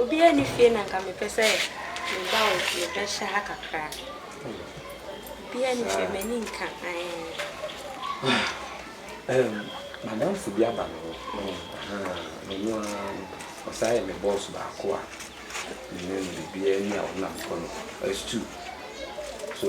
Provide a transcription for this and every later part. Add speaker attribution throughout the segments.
Speaker 1: Obiara nni fie na nka mepɛ sɛ meba wo fie bɛhyɛ ha kakra. Obiara
Speaker 2: nni fie, m'ani nka. Madamfo bi aba me hɔ, me no ara no, ɔsan yɛ me bɔs baako a me ne no biribiara ni a ɔnam kɔ no, ɛstuu so.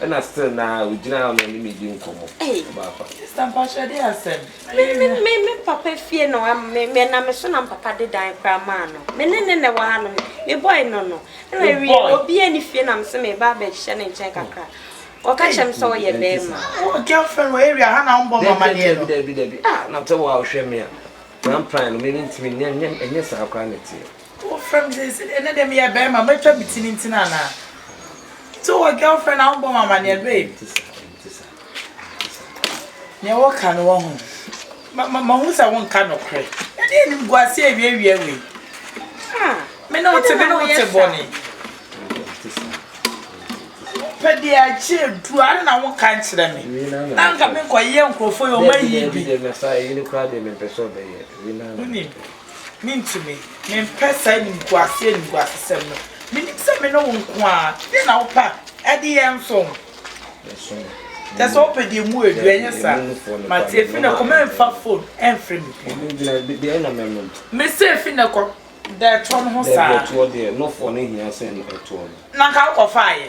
Speaker 2: Ɛna still naa ogyina hɔ na ɔne me di nkɔmmɔ. Ɔba afa.
Speaker 3: Sister mpakyɛ de asɛm. Me me me me
Speaker 1: papa fie no me me na me so na me papa de dan koraa maa no. Me ne ne na ɛwɔ ha nom. Me boy no no. Ɛna Wo awie boy. obi ɛni fie na me se me ba abɛ hyɛ ne nkyɛn kakra. Ɔka kyerɛ me sɛ Ɛnti ɔyɛ ɛnti bɛɛma. saa. Wowɔ girlfriend wɔ
Speaker 3: area ha na wɔn bɔ wɔn Dabi amaneɛ dabi no. dabi dabi ah na sɛ wo
Speaker 2: a wohwɛ me a na mpran no me mentumi nyɛ ɛnyɛ ɛnyɛ saa koraa na ɛteɛ. Wofrɛ me sɛ
Speaker 3: sɛdeɛ ɛnnɛ deɛ meyɛ barima mɛtwa me ti no nti no anaa? Sɛ wowɔ girlfriend a wombɔ me amaneɛ babe. Nea wɔka no wahu. Mahu sɛ wonka nokorɛ. Ɛdeɛ animguaseɛ awiawia wei. Me ne wote me ne wote bɔne. Wopɛ deɛ agye aduru a na wonka nkyerɛ me. Na nka menkɔyɛ nkurɔfoɔ yɛ ɔma yie bi.
Speaker 2: Wonim. Mintumi.
Speaker 3: Mempɛ saa animguase animguasesɛm no. Minim sɛ me ne wo nko ara. Deɛn na wopɛ a, ɛde yɛn nso ho. Kyerɛ sɛ wopɛ deɛ emu yɛ duru, ɛnyɛ saa? Mate, efi nnɛ kɔ, mɛmfa fon mfrɛ me bio. Mese
Speaker 2: efi nnɛ
Speaker 3: kɔ, da ɛtoɔ no
Speaker 2: ho saa. Na anka wokɔfaeɛ.